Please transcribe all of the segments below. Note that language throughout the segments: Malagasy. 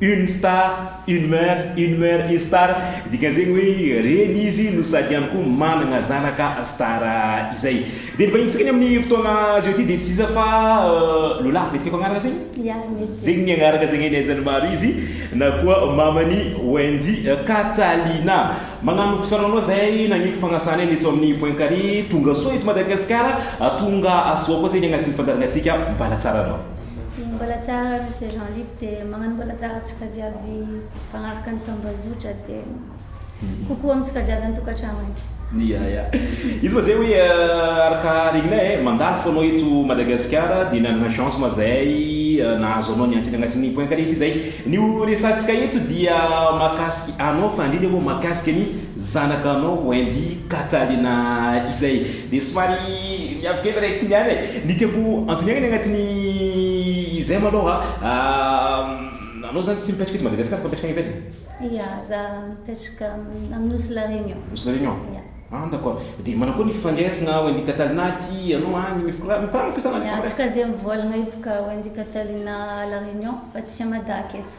Une star, une mère, une mère est star, dikan'izegny hoe reny izy no sady ihany koa managna zanaka star izay. Dia ny vahintsika ny amin'ny fotoagna azo eo ity dia tsy iza fa Lola, mety feko agnarana zegny? Ya, mety. Zegny ny agnaraka zegny ny aizan'ny maro izy na koa maman'i Wendy Catalina. Magnano fisarahonao zahay nagniky fagnasanay ny eto amin'ny point carré, tonga soa eto Madagasikara, tonga soa koa zegny agnatin'ny fandaharanantsika, mbala tsara anao. Ny mbola tsara ny saison libre dia magnano mbola tsara tsokajavy mifanaraka ny tambazotra dia kokoa amin'ny sokajavy an-tokantrano haiko. Ya ya. Izy moa zay hoe araka regnina eh, mandalo fo anao eto Madagasikara dia nanana chance moa zay nahazo anao niantsena agnatin'ny point carré ity zay. Ny ho resahantsika eto dia mahakasika anao fa indrindra moa mahakasika ny. Zanaka anao Wendy Catalina izay dia somary miavy kely raha ity niany e! Ny tiako antoniaina ny anatin'ny izay maloha anao zany tsy mipetraka eto Madagascar fa mipetraka any ivelany? Ia, za mipetraka amin'ny Nosy La Réunion. Nosy La Réunion? Ia. Ah d'accord. Dia manao akory ny fifandraisana Wendy Catalina aty ianao any? Mikoragna mikoragna ny fiasana? Ia, tsy kazia mivoalagna io boka Wendy Catalina La Réunion fa tsy à Mada aketo.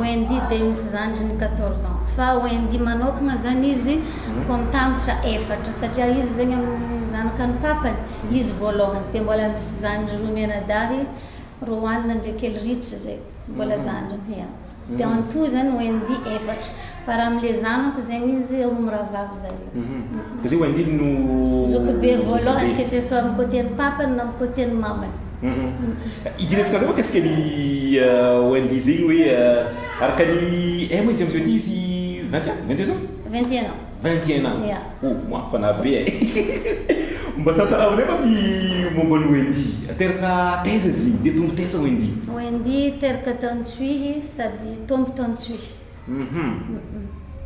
Wendy dia misy zandriny quatorze ans fa Wendy manokana zany izy comme tambitra efatra satria izy zegny amin'ny zanakany papany izy voalohany dia mbola misy zandry roa mianadahy Roanina ndreky Elritch zay mbola zandriny ya dia en tout zany Wendy efatra Fa raha amle zanako zegny izy roa mirahavavy zare. Fa zay Wendily no zoky be voalohany que ce soit am côté ny papany na am côté ny mamany. Idirantsika zay mikasika ny Wendy zegny hoe araka ny eh moa izy amzao ty izy vingt ans? Vingt deux ans? Vingt et un ans. Vingt et un ans. Ya. Oh moa fa navy be eh. Mba tantarao aminay moa ny momba an'i Wendy. Teraka taiza izy igny? Dia tongo taiza Wendy? Wendy teraka tany Tsuhihy sady tombo tany Tsuhihy.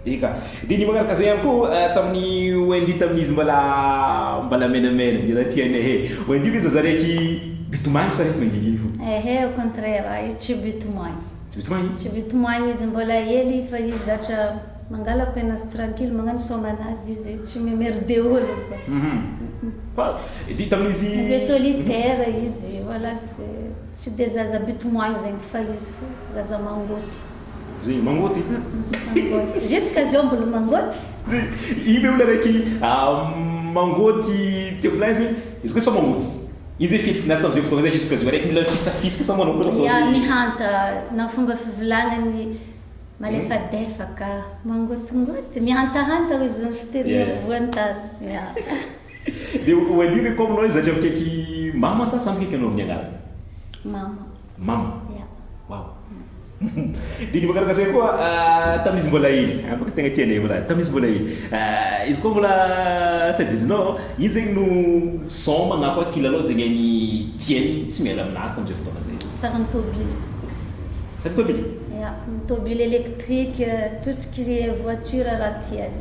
Eka. Dia ny manaraka izay ihany koa tamin'ny Wendy tamin'izy mbola mbola menamena dia tianay e. Wendy ve zaza raiky bitomany sa raiky mangingina? Ehe au contraire izy tsy bitomany. Tsy bitomany? Tsy bitomany izy mbola hely fa izy zatra mangala pain azy tranquille magnano soaman'azy izy tsy mimerde olona fa. Dia tamin'izy. Be solitaire izy voilà tsy dia zaza bitomany zegny fa izy fo zaza mangoty. Zay mangoty. Mangoty. Jusqu'à zao mbola mangoty? Io ve olona raiky mangoty teo plein zay? Izy koa tsy fa mangoty. Io zay fihetsiky naty tamzay fotoagna zay jusqu'à zao raiky mila mifisafisaka sa manao akory? Ya mihanta na fomba fivolagnany malefadefaka, mangotingoty, mihantahanta hoy zany fiteny ampovoany tany. Ya. Dia ho an'io ve koa aminao izy zatra mikaiky mama sa sa mikaiky anao amin'ny anarany? Mama. Mama? Ya. Waouh. Dia ny Bakary Kasay koa tamin'izy mbola iny, afaka tegna tianay i Bakary, tamin'izy mbola iny. Izy koa mbola tadidianao, iny zegny no son na koa kilalao zegny agny tiany tsy miala aminazy tamin'izay fotoagna zay. Sarin'ny tôbily. Sarin'ny tôbily? Ya, ny tôbily électrique, tout ce qui est voiture raha tiany.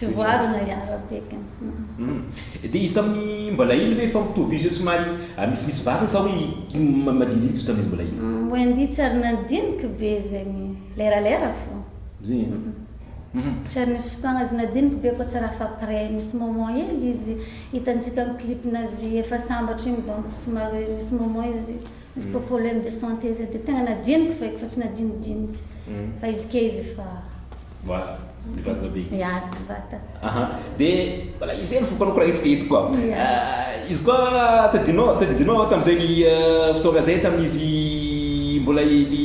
Fivoarana i Arabeky. Dia izy tamin'ny mbola iny ve efa mitovy izy io somary misimisy vavany sa hoe iny madinidinika izy tamin'izy mbola iny? Wendy tsy ary nandiniky be zegny, leralera fô. Tsy ary nisy fotoagna izy nadiniky be koa tsara fa après nisy moment hely izy hitantsika amin'ny clip-nazy efa sambatra igny donc somary nisy moment izy nisy popolemes de santé zay dia tegna nadiniky feky fa tsy nadinidiniky fa izy ke izy efa Wa, ny vatana be. Ya, ny vata. Aha, dia voilà izay ny vokany koraintsika eto koa. Ya. Izy koa tadidinao, tadidinao tamin'izay ny fotoana izay tamin'izy mbola kely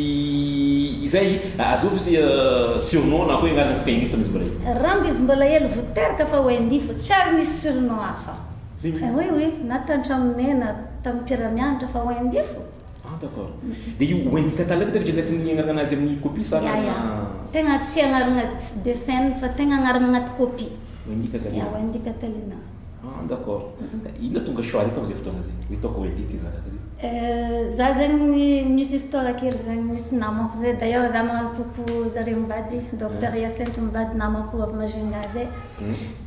izay, azovy izy surnom na koa anarana fikainisan'izy mbola kely. Rambo izy mbola kely vao teraka fa Wendy fo, tsy ary nisy surnom hafa. Zay. Oui, oui, na tan-tramonay na tamin'ny mpiara-mianatra fa Wendy fo. Ah d'accord. Dia io wendy catalog tena dia tsy agnarana azy amin'ny copie sa Ya ya. Tegna tsy agnarana de scène fa tegna agnarana agnaty copie. Wendy Catalina. Ya Wendy Catalina. Ah d'accord. Inona no tonga choix-nao tamin'izay fotoana izay hoe hitaoko wendy ity zanaka ity? Za zegny misy histoire kely zegny misy namako zay d'ailleurs za manompompoko zareo mivady docteur Hyacinthe mivady namako avy Majunga zay.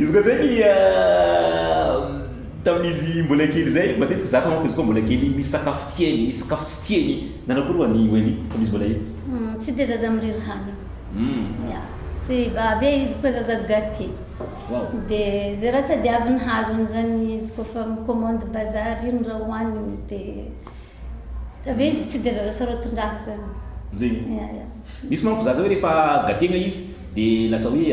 Izy koa zegny tamin'izy mbola kely zay, matetiky zaza manko izy koa mbola kely misy sakafo tiany, misy sakafo tsy tiany, nanao akory ho'a ny Wendy tamin'izy mbola hely? Tsy de zaza miriry hanigny, ya, tsy, avy eo izy koa zaza gate, de ze raha tadiaviny hazony zany izy kôfa mi-commande bazary ino raha hohaniny de Ka ve izy tsy dia zaza sarotondràka izany? Amin'izay io. Ia, ia. Misy manko zaza hoe rehefa gategna izy dia lasa hoe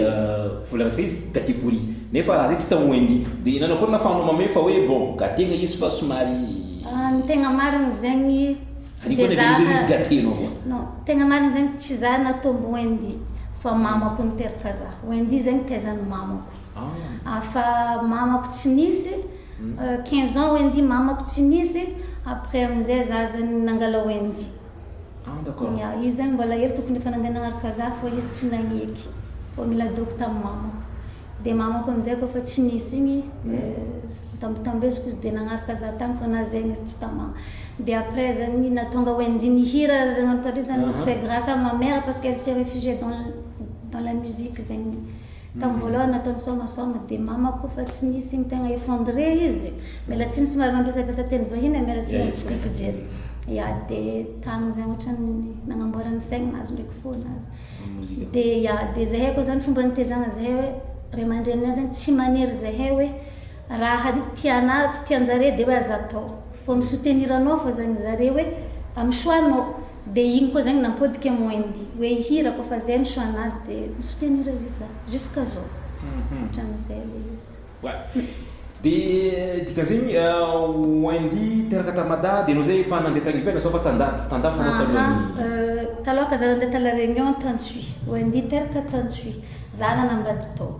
vola ratsy izy, gate pourri. Nefa raha zay tsy tao Wendy. Dia nanao akory nafahanao mamehy fa hoe bon, gategna izy fa somary. Ah, ny tegna marigny zegny tsy dia za. Ary koa na dia amin'izay izy gatenao koa. Non, tegna marigny zegny tsy za natombo Wendy fa mamako niteraka za. Wendy zegny taizan'ny mamako. Afa mamako tsy nisy quinze ans Wendy mamako tsy nisy après amin'izay za zany nangala Wendy. Ya, izy zany mbola hely tokony efa nandeha nagnaraka za fô izy tsy nagneky fô niladoako tamin'ny mamako. Dia mamako amin'izay kôfa tsy nisy igny notambitambeziko izy dia nagnaraka za tagny fô na zegny izy tsy tamà. Dia après zany nahatonga Wendy nihira nagnano karaha dreo zany c'est grâce à ma mère parce qu'elle s'est réfugiée dans dans la musique zegny. Tamin'ny voalohany nataony soamasoama dia mamako fa tsy nisy ny tegna effondré izy. Miala tsiny somary mampiasapasa teny vahiny e, miala tsiny amin'ny fijery. Ya dia tamin'izay ohatran'ny nagnamboarany saigny nahazo ndraiky fo nazy. Dia ya dia zahay koa zany fomba nitezagna zahay hoe ray aman-dreninay zany tsy maniry zahay hoe raha tianà tsy tian-jare dia hoe aza atao. Fa mi-soutenir anao fao zany zare hoe amin'ny choix-nao. Dia iny koa zegny nampodiko am Wendy hoe hihira koa fa zay no choix nazy dia mi soutenir izy za jusqu'à zao hatramizay le izy. Ouais. Dia dikan'zegny Wendy teraka ta Mada dia enao zay efa nandeha tagny ivelany sao fa tandady tandafy anao talohan ny. Aha taloha ka za nandeha ta la Réunion tan tsy Wendy teraka tan tsy za nanambady tao.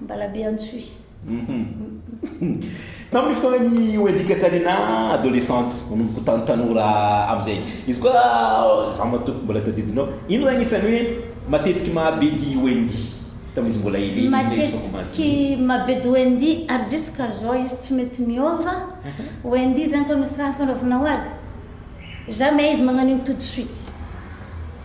Ambalabeantsoy. Tamin'ny fotoanan'ny Wendy Katarina adolescente, manomboka ho tan tanora amin'izay. Izy koa izaho matoa mbola tadidinao, inona no anisan'ny hoe matetiky mahabedy Wendy tamin'izy mbola elely iny na izy efa voahaja iny? Matetiky mahabedy Wendy ary jusqu'azao izy tsy mety miova, Wendy zany koa misy raha ampanaovina ho azy? Jamais izy magnano iny tout de suite.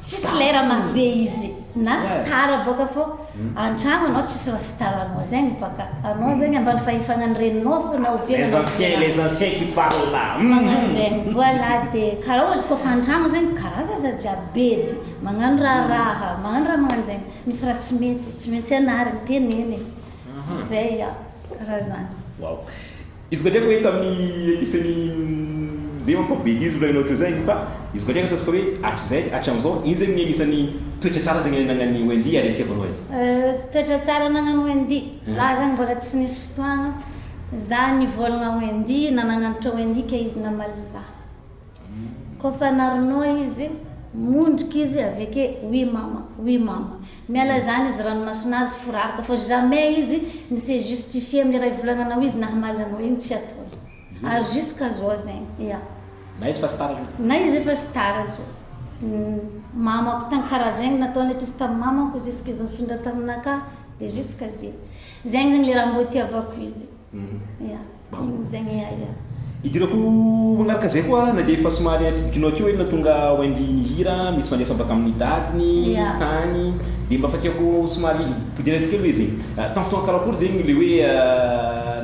Tsisy lera marobe izy na star boka fô antragno anao tsisy raha star anao zegny boka anao zegny ambany fahefagna ny reninao fô na oviana Les na anciens oviana les anciens qui parlent magnano hum. zegny voilà de karaha olo kôfa antragno zegny karaha zaza jiaby bedy magnano raharaha magnano raha magnano zegny misy raha tsy mety tsy maintsy ianarigny tenenigny zay ya karaha zany. Waouh. Izy koa ndreka hoe tamin'ny epistle izay manko be didy volaina ohatr'izay fa izy koa ndreka ataontsika hoe hatrizay hatramin'izao iny izay no anisan'ny toetra tsara izay nananan'i Wendy ary ity voalohany izay. Toetra tsara ananan'i Wendy, za zany mbola tsy nisy fotoagna za nivolagna Wendy na nagnanotra Wendy ke izy namaly za. Koa fa narognoa izy mondrika izy avy ake oui mama oui mama. Miala zany izy ranomasonazy foraroka fa jamais izy mi se justifier am le ray volagna anao izy nahamaly anao igny tsy ataony ary jusqu'à zao zegny ya na izy efa star zao ty na izy efa star zao mamako tagny kara zegny nataony atrizy tam mamako jusqu'à izy nifindra taminakahy de jusqu'à zay zegny zany le raha mbo itiavako izy ya. Maninona izay ny ahy a! Idirako manaraka izay koa na dia efa somary atsidikinao akeo eny na tonga ao andihy ny hira misy fandraisam baka amin'ny dadiny tany dia mba fatiako somary podiana tsikery hoe zay tamin'ny fotoana karakory zegny le hoe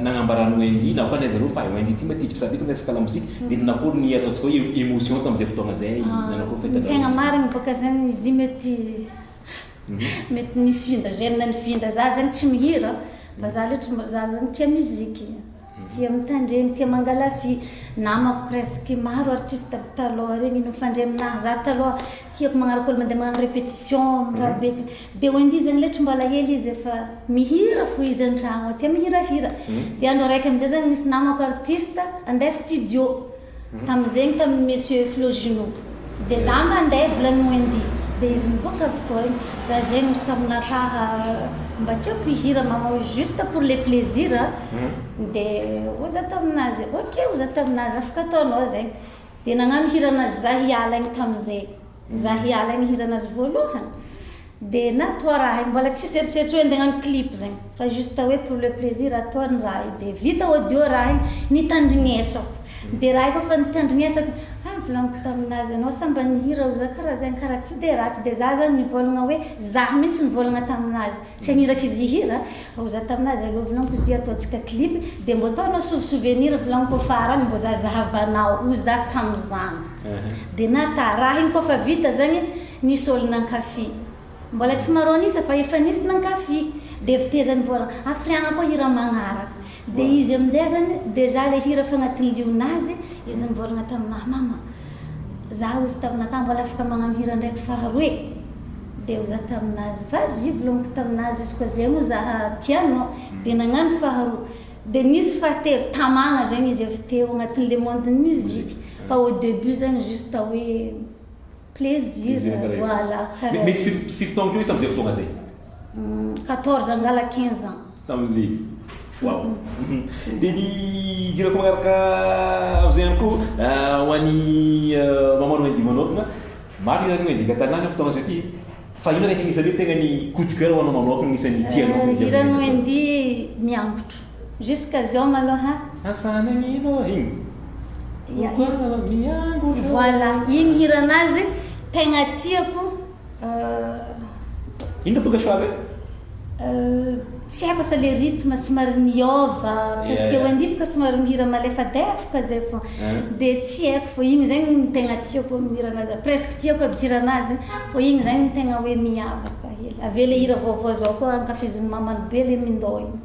nagnambarany wendy na koa ny azy zareo fa wendy ity matetika sady efa miresaka la mozika dia nakory ny ataontsika hoe emotion tamin'izay fotoagna zay ny tegna marigny bôka zegny izy io mety Mety misy vin-dra gène ny vin-dra za zany tsy mihira fa za le tsy za zany tia musique tia mitandreny tia mangalavia namako presque maro artiste aby taloha regny mifandray aminaha za taloha tiako magnaraka olo mandeha magnano repetition am raha be de wendy zany le tsy mba alahelo izy efa mihira fo izy antragno ao tia mihirahira de andro araiky amizay zany nisy namako artiste ande studio Tamin zegny tamin monsieur Flo Junot de za mandeha volany Wendy de izy miboaka avy teo any za zegny ozy tamin akahy mba tiako hihira manao juste pour le plaisir a de ozy za taminazy ok ozy za taminazy afaka ataonao zegny de nagnano hira anazy za hiala igny tamin zegny za hiala igny hira anazy voalohany Dia na toa raha hay mbola tsisy eritreritro hoe andeha hagnano clip zegny fa juste hoe pour le plaisir atao ny raha io dia vita audio raha igny nitandrignesako dia raha efa fa nitandrignesako ah volagniko tamin'azy ianao sa mba nihira ho za karaha zegny karaha tsy dia ratsy dia za zany nivôlagna hoe za mintsy nivôlagna tamin'azy tsy hagniraka izy hihira ah ho za tamin'azy alou volagniko izy io ataontsika clip dia mbô atao anao sou souvenir volagniko farany mbô zazahavanao ho za tamizany dia nata raha igny koa fa vita zegny Nisy ol nankafy. Mbola tsy maro an'isa fa efa nisy nankafy. Dia vtezany vao hafriagna koa hira magnaraka. Dia izy amin'izay zany déjà le hira efa agnatin'ny lion'azy, izy nivôlagna taminah, mama za ozy taminah tany mbola afaka magnano hira ndraiky faharoe e. Dia ozy zah tamin'azy, vas y volagniko tamin'azy izy koa zay moa zah tia anao. Dia nagnano faharoa. Dia nisy fahatelo, tamagna zegny izy avy teo agnatin'ny le monde-n'ny musique. Fa au début zany juste hoe. Plaisir, voilà, karaha. Mety fito fito taona teo izy tamin'izay fotoana izay. Quatorze angalah quinze ans. Tamin'izay. Waouh. Dia ny idirako manaraka amin'izay ihany koa ho an'i maman Wendy manokana, maro ny anareo Wendy Gatanana amin'io fotoana izao ity e. Fa inona ilay hira isan'ny hoe tena ny coup de coeur ho anao manokana, isan'ny tianao ny hira. Ny hiran'i Wendy miangotro. Jusqu'à zao malôha. Asa any agny ino oa igny? Ia iny. Okoa anao miango io. Voilà iny hiranazy tegna tiako euh. Ino tonga choix zay? Euh tsy haiko asa le rythme somary miôva parce que Wendy boka somary mihira malefadefoka zay fô de tsy haiko fô igny zegny no tegna tiako am hiranazy presque tiako aby jiranazy fô igny zegny tegna hoe miavaka hely avy eo le hira vaovao zao koa ankafizin'ny mamany be le mindô igny.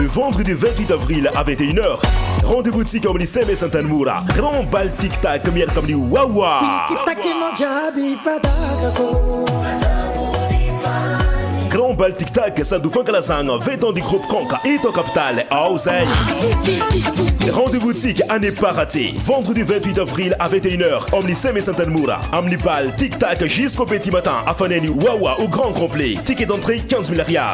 Le vendredi 28 avril à 21h, rendez-vous tsika amin'ny CMS Antanimora, Grand Bal Tic Tac miaraka amin'ny Wawa. Grand Bal Tic Tac sady ho fankalazagna 20 ans du groupe Konka eto capitale ao zay. Rendez-vous tsika à ne pas rater. Vendredi 28 avril à 21h amin'ny CMS Antanimora, amin'ny Bal Tic Tac jusqu'au petit matin afanen'i Wawa au grand complet. Ticket d'entrée 15 000 Ariary.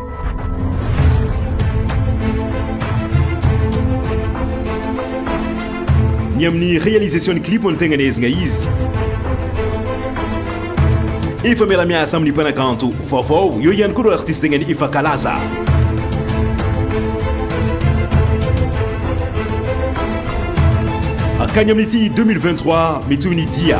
ny amin'ny réalisation ny clip no tegna nehezigna izy efa miara-miasa amin'ny mpanakanto vaovao eo ihany koa ireo artiste tegna ny efa kalaza akagny amin'ity 2023 mety ho ny dia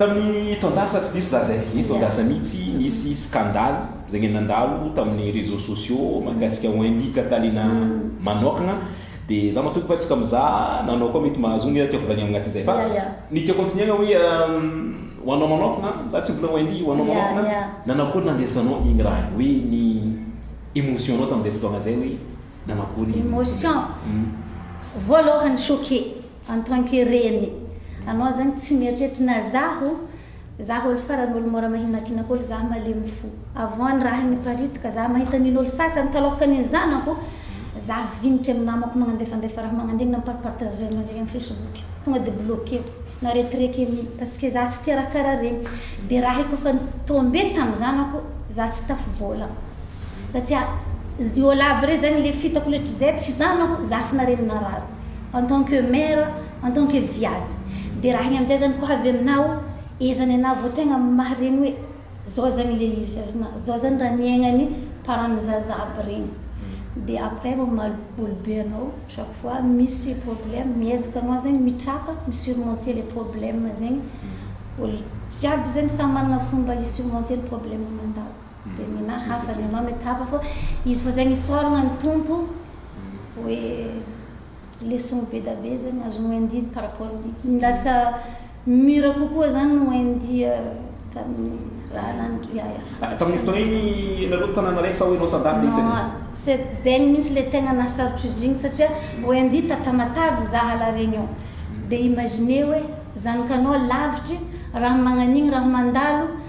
Tamin'ny taon-dasa tsy diso za zay, eny taon-dasa mihitsy, nisy scandale zay nge nandalo tamin'ny réseaux sociaux mahakasika ho Indy Catalina manokana dia za matoky fa tsy ka mizaha nanao koa mety mahazo ny tiako volagny amina aty zay fa ny tiako antonihagna hoe ho anao manokana za tsy mbola ho Indy ho anao manokana nanao akory nandraisanao igny raha igny hoe ny émotion nao tamin'izay fotoagna zay hoe nanao akory ny émotion voalohany choqué. en tant que reny anao zany tsy mieritreritra na zaho zaho olo farany olo mora mahinakinaka olo zaho malemy fo avant ny raha niparitaky zaho mahita an'iny olo sasany taloha tany ny zanako zaho vignitra amin'ny namako magnandefandefa raha magnandiny na mi-parpartage an'ireo ndray amin'ny facebook tonga dia bloquer-ko na retireke mi parce que zaho tsy tia raha karaha regny dia raha efa efa ni-tomber tamin'ny zanako zaho tsy tafi vola satria io olo aby rey zany le fitako le tsy zay tsy zanako zaho fona reny narary. en tant que mère, en tant que viavy dia raha ny amin'izay zany ko avy aminao iza ny anah vao tegna maharegny hoe zao zany le izy azy na zao zany raha niaignan'ny parents ny zaza aby regny dia après vao mamaly olo be anao chaque fois misy problème miezaka anao zegny mitraka mi surmonter le problème zegny olo jiaby zegny samy managna fomba hi surmonter ny problème mandalo. Dia ny na hafa ny anao mety hafa fa izy fa zay nisaoragna ny Tompo hoe leçon bedabe zany azon'i Wendy par rapport ny ny lasa mur kokoa zany i Wendy tamin'ny raha nandry ya ya. Ah, tamin'iny fotoana iny ianareo tanàna raiky sa hoe nao tan-dafy isan-dreo? Non, tsy zegny mihitsy le tegna nahasarotr'izy igny satria Wendy ta Tamatave zaha La Réunion dia imaginez hoe zanakanao lavitry raha magnan'igny raha mandalo,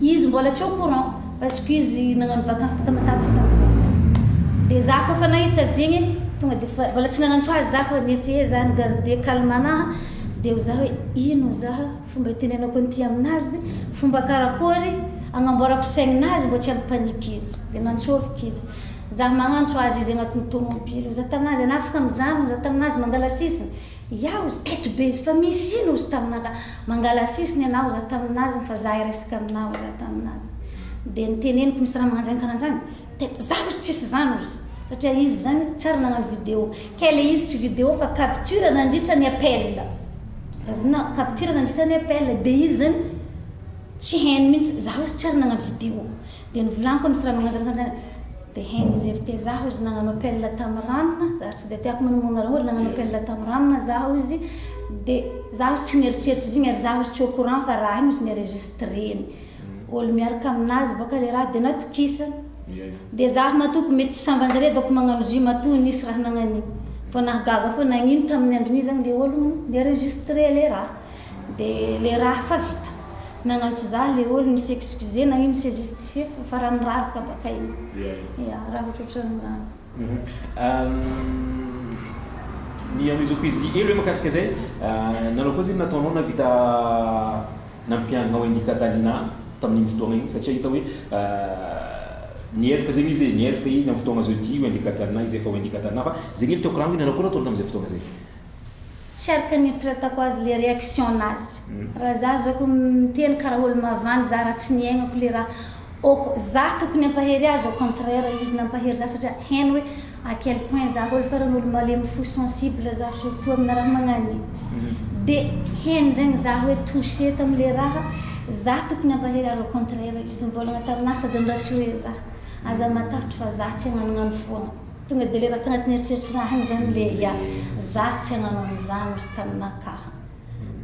Izy mbola tsy au courant parce que izy nagnano vacances teta matavy tamzay de za koa fa nahita zegny tonga de fa mbola tsy nagnantso azy za fa ni essayer za ni garder calme anaha de ho za hoe ino ho za fomba hitenenako an'ity amin'azy fomba karakory agnamboarako saigninazy mba tsy hampi panique izy de nantsôviko izy za magnantso azy izy agnatin'ny tômôbily ho za taminazy ana afaka mijano ho za taminazy mangala sisiny Iao zy teto be zy fa misy ino zy tamina ka mangalasisiny ianao za taminaziny fa za hiresaka aminao za taminaziny dia niteneniko misy raha mananjany karanjany teto za ozy tsisy zany ozy satria izy zany tsy ary nagnano video kay le izy tsy video fa capture nandritra ny appel raha zina capture nandritra ny appel dia izy zany tsy hainy mintsy za ozy tsy ary nagnano video Dia novolaniko amin'i Sra Magnanjaka indray hoe dia hain'i Zefte zaho izy nagnano appel tamin'i Ranona ary tsy dia tiako minomoa anareo hoe nagnano appel tamin'i Ranona zaho izy dia zaho izy tsy nieritreritra izy igny ary zaho izy tsy au courant fa raha igny izy ni-enregistreny olo miaraka aminazy boka le raha dia natokisany dia zaho matoa ko mety samban-jare dôko magnano izy io matoa nisy raha nagnan'igny vao nahagaga foana nagnino tamin'ny andron'igny zany le olo ni-enregistré le raha De le raha fa vita. Nagnantso zah le ol mi s'excuser na i mi se justifier fa fara nirary ka baka iny. Ya raha otrotran zany. Ny an'i zo pzy elo hoe makasika zay nanao akory zay nataonao navita nampianao an'i Catalina tamin'iny fotoagna iny satria hita hoe niezaka zegny izy e, niezaka izy am fotoagna zao ty wendy Catalina izy efa wendy Catalina fa zegny elo tiako rano hoe nanao akory nataony tamzay fotoagna zay. Tsy araka ny eritreretako azy le reaction nazy. Raha za zao ko miteny karaha olo mavandy za raha tsy niaignako le raha ok za tokony ampahery azy au contraire izy nampahery za satria heno hoe à quel point za olo farany olo malemy fo sensible za surtout amina raha magnanio. De heno zegny za hoe toucher tamle raha za tokony ampahery azy au contraire izy mivôlagna tamina sady nirasure za aza matahotro fa za tsy agnanognano foagna. Tonga dia levaka tanatin'ny eritreritr'ra any izany ilay ry a. Za tsy hanano an'izany ozy taminà ka.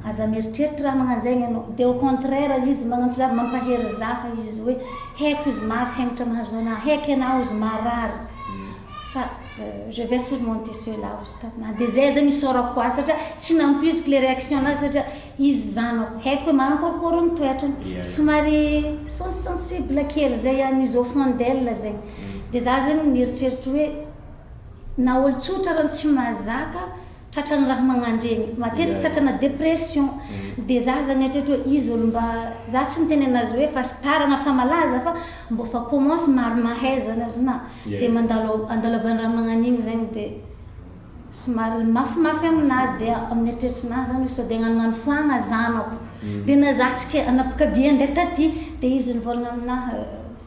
Aza mieritreritra raha magnan'izay ianao. Dia au contraire izy magnantso za, mampahery za izy hoe haiko izy mafy hemitra mahazo anà, haiko ianà ozy marary fa je vais surmonter cela ozy taminà. Dia izay aza ny isaorako azy satria tsy nampoiziko ilay réaction-nà satria. Izy izany ao. Haiko hoe manakorokoro ny toetrany. Somary sens sensible kely izay an' i Zofundel izay. Dia izaho izay no nieritreritra hoe na olo tsotra ary tsy mazaka tratran'ny raha magnandregny. Matetiky tratrana depression. Dia izaho izay nieritreritra hoe izy olo mba, izaho tsy miteny anazy hoe fa star na fa malaza fa mbô fa commence maro mahay izany azonao. Dia mandalo andalovan'ny raha magnan'igny izay dia. Somary mafimafy aminazy dia amin'ny eritreritrinazy zany hoe sao dia agnanognano foagna zanako dia na za tsy ke anapoka be andeha taty dia izy nivolagna aminaha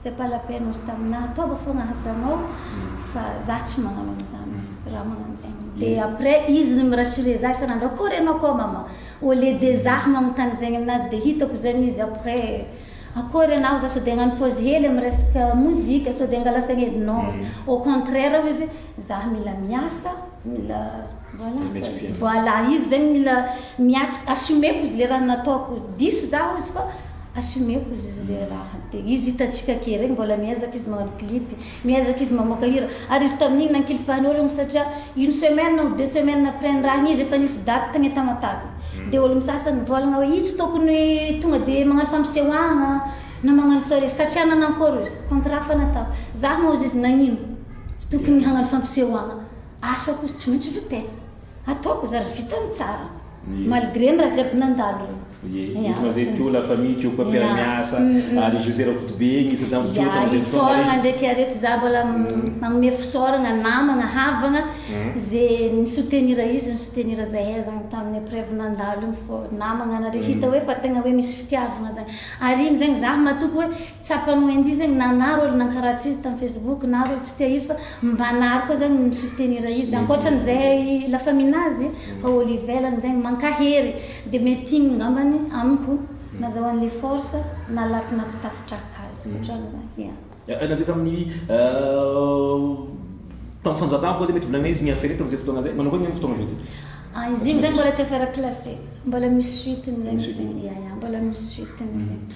c'est pas la peine ozy taminaha ataova foagna asanao fa za tsy magnano an'izany raha magnano zegny dia après izy mi rassurer za isan'andro akôry anao koa mama au lieu de za magnontany zegny aminazy dia hitako zegny izy après akôry anao za sao dia agnano pause hely amin'ny resaka mozika sao dia angala saigny edy non au contraire hozy Zah mila miasa, mila voilà, voilà izy zegny mila miatrika, assumeko izy le raha nataoko izy, diso zah ozy fa assumeko izy izy le raha, de izy hitantsika ke regny mbola miezaka izy magnano clip, miezaka izy mamoaka hira, ary izy tamin'igny nankilifahan'ny ologno satria une semaine ou deux semaines après ny raha igny izy efa nisy date tagny Tamatave, de ologno sasany mivôlagna hoe io tsy tokony tonga de magnano fampisehoagna na magnano soirée satria nagnakôry ozy, contrat fa natao, zah moa ozy izy nagnino? Tsy tokony hagnano fampisehoana asa koa tsy maintsy aloha tena ataoko zary vitany tsara malgré ny raha jiaby nandalo iny. Ie, izy ma zay teo la famille teo koa mpiara miasa ary José Rakotobe izy tam teo tam zay fotoana reny. Isaoragna ndreky are tsy za mbola magnome fisaoragna namagna havagna ze ni soutenir izy ni soutenir zahay zagny taminy epreuve nandalo iny fô namagna nareo hita hoe fa tegna hoe misy fitiavagna zagny ary igny zegny za matoky hoe Tsapan'i Wendy zegny na anaro olo nankaratsy izy tam facebook na olo tsy tia izy fa mba anaro koa zegny no mi-soustenir izy ankoatran'izay la famille nazy fa olo ivelany zegny mankahery de mety igny ngambany amiko nazahoany le force na laky nampitafitraka azy otran'izany ya. Ya na de tamin'ny tam fanjakana koa zay mety volagnay izy mi-affaire eto amzay fotoagna zay manao akory ny am fotoagna zao ty? Ah izy igny zegny mbola tsy affaire classée mbola misy suite-ny zegny izy igny ya ya mbola misy suite-ny izy igny.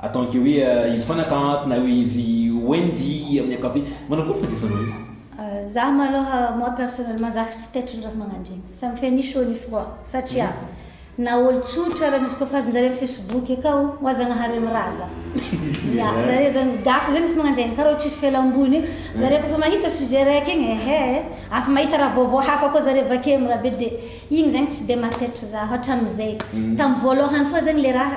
Ataonke hoe izy fana ka ato na hoe izy Wendy amin'ny ankapobeny. Manao akory fandraisanao io? Za malôha moi personnellement za tsy taitry ny raha magnandregny. Ça me fait ni chaud ni froid satria na ôlo tsotra ara ny jokafazin-jare amin'ny facebook akao oa Zagnahary amin'ny raha za. Ya zare zany gasy zany efa magnanjegny ka reo tsisy fialamboligny io. Zare kôfa mahita sujet raiky igny ehe afa mahita raha vaovao hafa koa zare vake amin'ny raha be de igny zegny tsy de mahataitry za hatramizay. Tamin'ny voalôhany fô zegny le raha.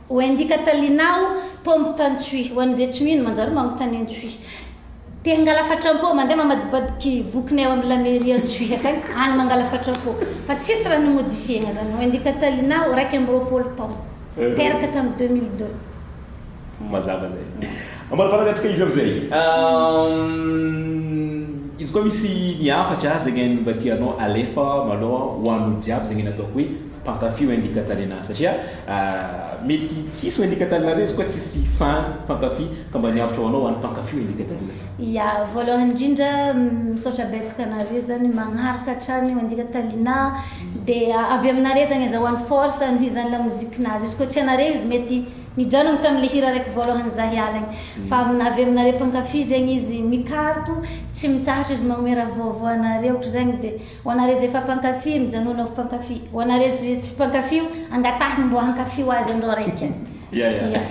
Ho endika taliana aho, tombo tany Tsui. Ho an'izay tsy mino, manjary manontany an'i Tsui. Te hangala fatram-po, mandeha mamadibadiky vokiny ao amin'ny La Mairie an'i Tsui akany, any mangala fatram-po. Fa tsisy raha nomodifiena izany. Ho endika taliana aho, iraika amby roapolo taona. Teraka tamin'ny deux mille deux. Mazava izay. Ambarabaraky antsika izy amin'izay. Izy koa misy ny hafatra zegny mba tianao alefa malôha ho an'olo jiaby zegny ny ataoko hoe. mpankafy Wendy Catalina satria mety tsisy Wendy Catalina zay izy koa tsisy fan mpankafy ka mba miaritra ho anao ho an'ny mpankafy Wendy Catalina. Ya, voalohany indrindra misaotra betsaka anareo zany magnaraka hatrany Wendy Catalina dia avy aminareo zany azahoany force hanohy izany lamozikinazy izy koa tsy anareo izy mety nijanogno tamin'ilay hira araiky voalohany za hiala igny fa avy avy aminareo mpankafy zegny izy mikaroka tsy mitsahatra izy magnome raha vaovao anareo ohatry zany dia Ho anareo izay efa mpankafy, mijanona ho mpankafy. Ho anareo izay tsy mpankafy io, angatahiny mbo hankafy ho azy andro araika. Ya ya. Ya.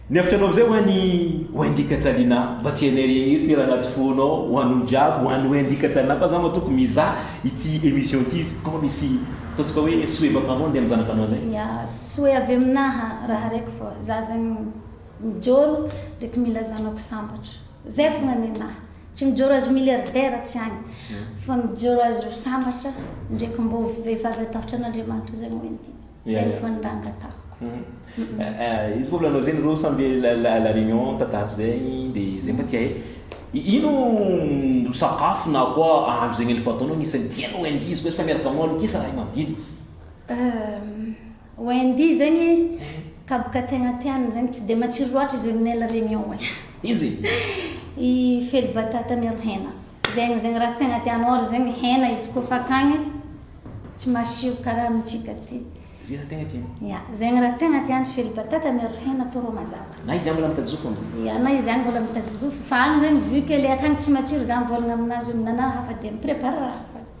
Ny hevitr'anao amin'izay ho an'i Wendy Kajalina, mba tsy hainay regny eto hira anaty fonao ho an'olo jiaby, ho an'i Wendy Kajalina fa za matoky mizaha ity emission ity izy kô misy ataontsika hoe souhait baka aminao andeha amin'ny zanakanao zay. Ya, souhait avy aminaha raha raiky fô, za zegny mijôro ndreky mila zanako sambatra. Zay fona nenah. Tsy mijoro azy ho milliardaire tsy agny fa mijoro azy ho sambatra ndre ko mbo vehivavy atahotra an'Andriamanitra zay moa inty. Zay ny fony raha angatahiko. Mhm. Izy ko milanao zegny reo sambe à la réunion tataty zegny de zay mba tia hay ino no sakafo na koa ahandro zegny efa ataonao agnisany tianao inty izy ko efa miaraka aminao amin ty sa raha i mambino? Euh Wendy izay ny kaboka tegna tiany zegny tsy dia matsiro loatra izy amin'ela réunion e. Iza e? I fely batata miaro hena. Zegny zegny raha tegna tiany or zegny hena izy koa fa akagny tsy masiro karaha amintsika aty. Zay raha tegna tiany. Ia, zegny raha tegna tiany fely batata miaro hena atao rô mazava. Na izy agny mbola mitady zofo amzay. Ia, na izy agny mbola mitady zofo fa agny zegny vu que le akagny tsy matsiro za mivôlagna amin'azy hoe minana raha hafa dia mi-prépare raha hafa izy.